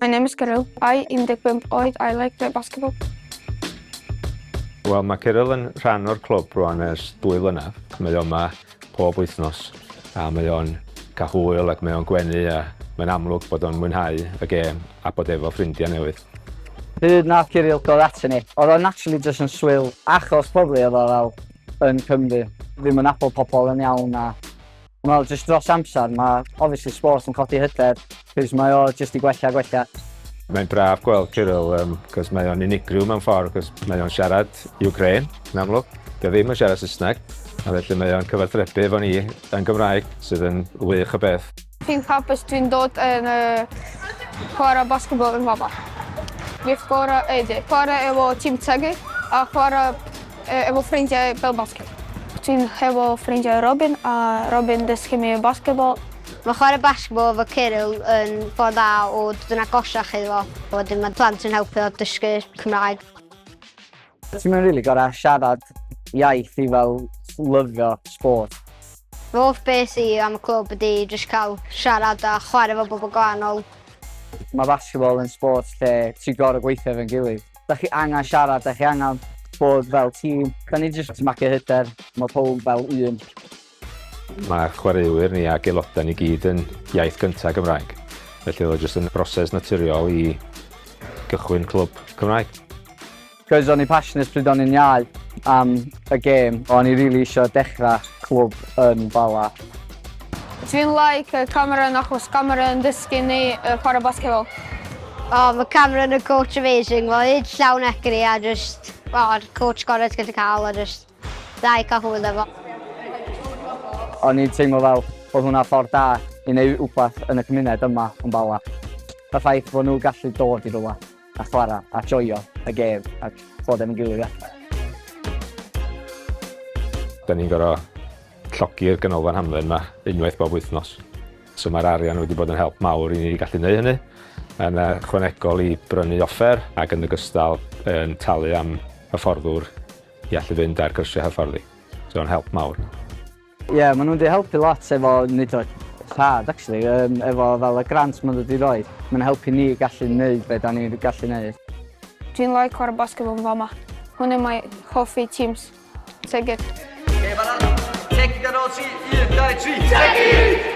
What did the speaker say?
My name is Kirill. I 15 oed. I like play basketball. Wel, mae Kirill yn rhan o'r clwb rwan ers dwy flynedd. Mae o'n yma pob wythnos a mae o'n cael hwyl ac mae o'n gwenu a mae'n amlwg bod o'n mwynhau y gêm a bod efo ffrindiau newydd. Hyd nath Kirill dod atyn ni, oedd o'n actually just yn swyl achos pobl oedd o fel yn Cymru, ddim yn apol pobl yn iawn a Wel jyst dros amser ma' obviously sport yn codi hyder 'c'os mae o jyst 'di gwella a gwella. Mae'n braf gweld Kirill yym 'c'os mae o'n unigryw mewn ffordd 'c'os mae o'n siarad Ukraine yn amlwg, 'di o ddim yn siarad Saesneg a felly mae o'n cyfathrebu efo ni yn Gymraeg sydd yn wych o beth. Fi'n hapus dwi'n dod yn yy chwara basketball yn fama. Fi'n chwara yy chwara efo Team Tegid a chwara Efo ffrindiau fel basged. Ti'n hefo ffrindiau Robin a Robin dysgu mi basketball. Mae chwarae basketball efo Cyril yn ffordd dda o dod yn agosach iddo fo, a wedyn mae plant yn helpu o dysgu Cymraeg. Ti'm yn rili gorau siarad iaith i fel lyfio sport. Fy hoff beth i am y clwb ydi jyst cael siarad a chwarae efo bobl gwahanol. Mae basketball yn sport lle ti gorau gweithio efo'n gilydd. Dach chi angen siarad, dach chi angen bod fel tîm. Da ni jyst marcio hyder, mae pawb fel un. Mae chwaraewyr ni ac aelodau ni gyd yn iaith gyntaf Gymraeg, felly oedd o jyst yn broses naturiol i gychwyn clwb Cymraeg. Cos o'n i passionate pryd o'n i'n iau am y gêm, o'n i rili isio dechrau clwb yn Bala. Dwi'n like uh, Cameron achos Cameron dysgu ni uh, chwarae basketball. O, oh, mae Cameron y coach amazing. Mae hyd llawn egri a just... O, oh, coach gorau ti'n gallu cael a just... Dda i cael hwyl efo. O'n i'n teimlo fel bod hwnna ffordd da i wneud rhywbeth yn y cymuned yma yn Bala. Y ffaith bod nhw gallu dod i rhywbeth. a chwarae a joio y gêm a bod efo'n gilydd ia. Da ni'n gorau llogi'r ganolfan hamdden yma unwaith bob wythnos. So mae'r arian wedi bod yn help mawr i ni gallu gwneud hynny. Mae'n chwanegol i brynu offer ac yn ogystal yn talu am hyfforddwr i allu fynd ar gyrsiau hyfforddi. So mae'n help mawr. Ie, maen nhw wedi helpu lot efo wneud o rhad, actually, um, efo fel y grant maen nhw wedi rhoi. Mae'n helpu ni gallu wneud beth da ni'n gallu wneud. Dwi'n like chwarae basketball yn fama. Hwn yn mae hoffi teams. Seged. Okay, fanna. Tegi gan ôl ti. 1, 2, 3. Tegi!